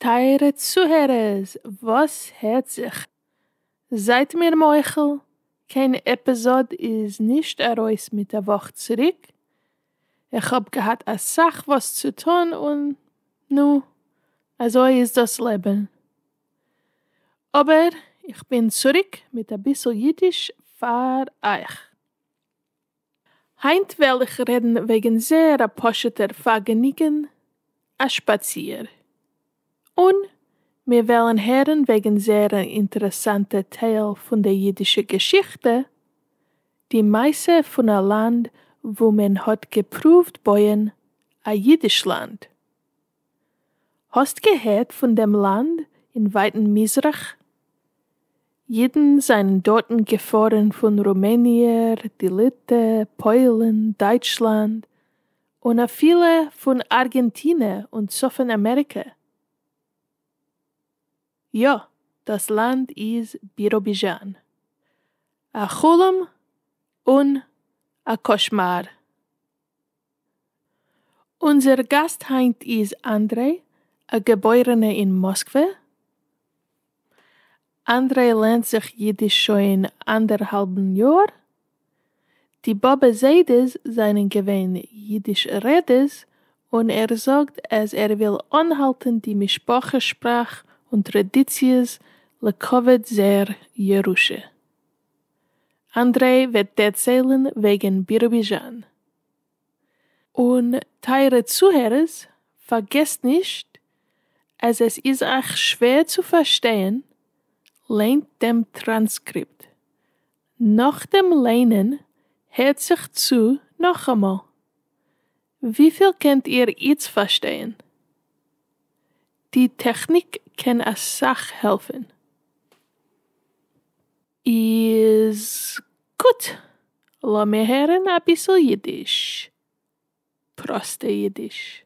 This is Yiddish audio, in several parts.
טייערע צוהערערס וואס הערט זיך? זייט מיר מוחל, קיין עפיזאד איז נישט ארויס מיט א וואך צוריק, איך האב געהאט אסאך וואס צו טון און נו, אזוי איז דאס לעבן. אבער איך בין צוריק מיט אביסל אידיש פאר אייך. היינט וועל איך רעדן וועגן זייער א פשוט'ער פארגעניגן, א שפאציר. און מיר וועלן הערן וועגן זייער אן אינטערעסאנטע טייל פון די אידישע געשיכטע, די מעשה פון א לאנד וואו מען האט געפרואווט בויען א אידיש לאנד. האסט געהערט פון דעם לאנד אין ווייטן מזרח? אידן זענען דארטן געפארן פון רומעניע, די ליטע, פוילן, דייטשלאנד, און אפילו פון ארגענטינע און צפון אמעריקע. יא, דאס לאנד איז ביראביזשאן. א חלום און א קאשמאר. אונזער גאסט היינט איז אנדרעי, א געבוירענע אין מאסקווע. אנדרעי לערנט זיך אידיש שוין אנדערהאלבן יאר, די באבע זיידעס זענען געווען אידיש רעדערס און ער זאגט אז ער וויל אנהאלטען די משפחה שפראך און טרעדיציעס לכבוד זייער ירושה. אנדרעי וועט דערציילען וועגען בירוביזשאן. און טייערע צוהערערס פארגעסט נישט אז עס איז אייך שווער צו פארשטייען ליינט דעם טראנסקריפט נאך דעם ליינען הערט זיך צו נאכאמאל. וויפיל קענט איר איצט פארשטייען? די טעכניק קען אסאך העלפן. איז גוט! לאמיר הערן אביסל אידיש. פראסטע אידיש.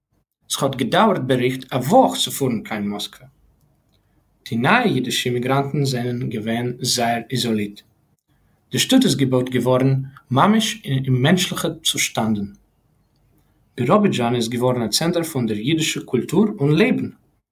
ס'האט געדאווערט בערך א וואך צו פארן קיין מאסקווע. די נייע אידישע אימיגראנטן זענען געווען זייער איזאלירט. די שטאט איז געבויט געווארן ממש אין אוממענטשליכע צושטאנדן. ביראבידזשאן איז געווארן א צענטער פון דער אידישער קולטור און לעבן,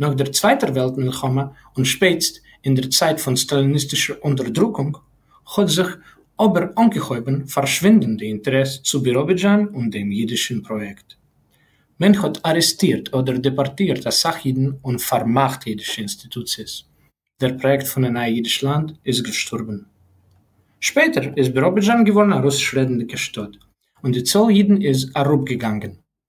נאָך דער צווייטער וועלט-מלחמה און שפּעטסט אין דער צייט פֿון סטאַליניסטישער אונטערדרוקונג, האָט זיך אָבער אָנגעהויבן פֿאַרשווינדן די אינטערעס צו ביראָבידזשאַן און דעם ייִדישן פּראָיעקט. מען האָט אַרעסטירט אָדער דעפּאָרטירט אַ סך ייִדן און פֿאַרמאַכט ייִדישע אינסטיטוציעס. דער פּראָיעקט פֿון אַ נײַ ייִדיש לאַנד איז געשטאָרבן. שפּעטער איז ביראָבידזשאַן געוואָרן אַ רוסיש-רעדנדיקע שטאָט, און די צאָל ייִדן איז אַראָפּגעגאַנגען.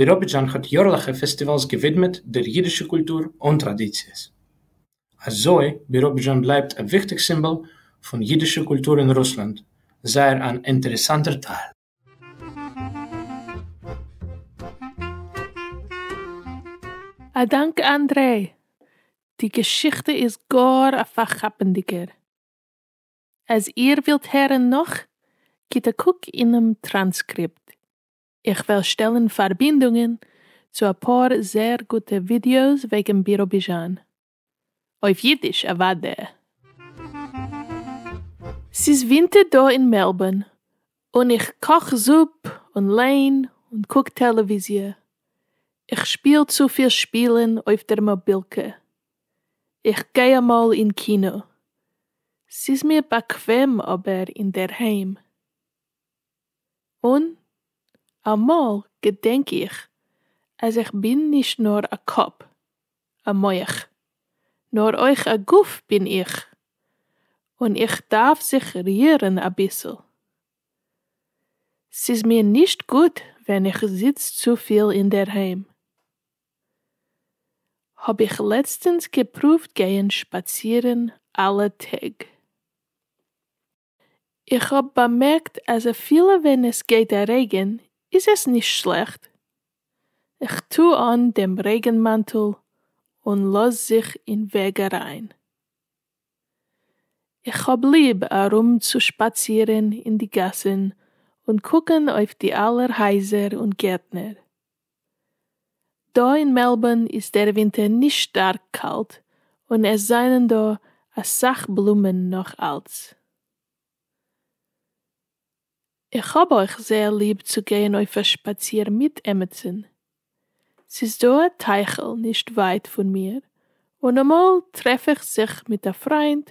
ביראבידזשאן האט יארליכע פעסטיוואלס געווידמעט דער אידישע קולטור און טראדיציעס. אזוי ביראבידזשאן בלייבט א וויכטיג סימבאל פון אידישע קולטור אין רוסלאנד, זייער אן אינטערעסאנטער טייל. א דאנק אנדרעי! די געשיכטע איז גאר א פארכאפענדיגער. אז איר ווילט הערן נאך, גיט א קוק אינעם טראנסקריפט. איך וועל שטעלן פארבינדונגען צו אפאר זעהר גוטע ווידיאוס וועגן ביראביזשאן. אויף אידיש אוודאי. ס'איז ווינטער דא אין מעלבארן און איך קאך זופ און ליין און קוק טעלעוויזיע. איך שפיל צופיל שפילן אויף דער מאבילקע. איך גיי אמאל אין קינא. ס'איז מיר באקוועם אבער אינדערהיים. און אמאל געדענק איך אז איך בין נישט נאר א קאפ, א מח, נאר אויך א גוף בין איך, און איך דארף זיך רירן אביסל. ס'איז מיר נישט גוט ווען איך זיץ צופיל אינדערהיים. האב איך לעצטענס געפרואווט גייען שפאצירן אלע טעג. איך האב באמערקט אז אפילו ווען עס גייט א רעגן איז עס נישט שלעכט, כ'טו אן דעם רעגן מאנטל און לאז זיך אין וועג אריין. איך האב ליב ארומצושפאצירן אין די גאסן און קוקן אויף די אלע הייזער און גערטנער. דא אין מעלבארן איז דער ווינטער נישט שטארק קאלט און עס זענען דא אסאך בלומען נאך אלץ. איך האב אויך זייער ליב צו גיין אויף א שפאציר מיט עמיצן. ס'איז דא א טייכל נישט ווייט פון מיר און אמאל טרעף איך זיך מיט א פריינט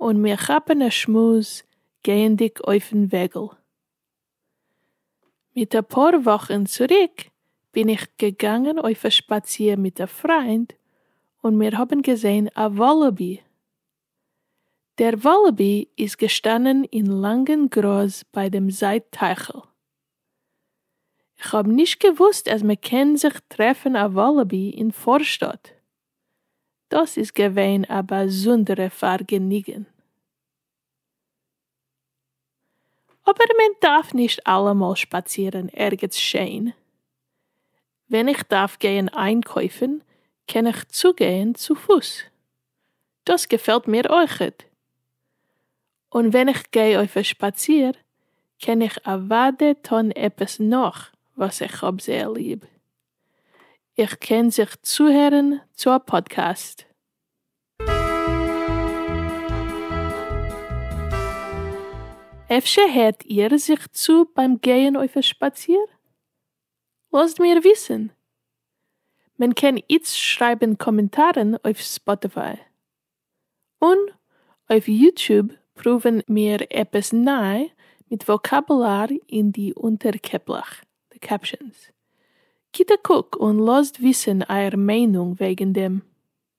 און מיר כאפן א שמועס גייענדיג אויפן וועגל. מיט אפאר וואכן צוריק בין איך געגאנגען אויף א שפאציר מיט א פריינד און מיר האבן געזעהן א וואלאבי. דער וואלאבי איז געשטאנען אין לאנגן גראז ביי דעם זית טייכל. כ'האב נישט געוואוסט אז מ'קען זיך טרעפן א וואלאבי אין פארשטאט. דאס איז געווען א באזונדערע פארגעניגן. אבער מען דארף נישט אלעמאל שפאצירן ערגעץ שיין. ווען איך דארף גייען איינקויפן קען איך צוגיין צופוס. דאס געפעלט מיר אויכעט. און ווען איך גיי אויף א שפאציר קען איך אוואדע טון עפעס נאך וואס איך האב זייער ליב. איך קען זיך צוהערן צו א פאדקעסט. אפשר הערט איר זיך צו ביים גייען אויף א שפאציר? לאזט מיר וויסן. מען קען איצט שרייבן קאמענטארן אויף ספאטיפיי. און אויף יוטוב פרואווען מיר עפעס ניי מיט וואקאבולאר אין די אונטער קעפלעך, די קעפשאנס. גיט א קוק און לאזט וויסן אייער מיינונג וועגן דעם.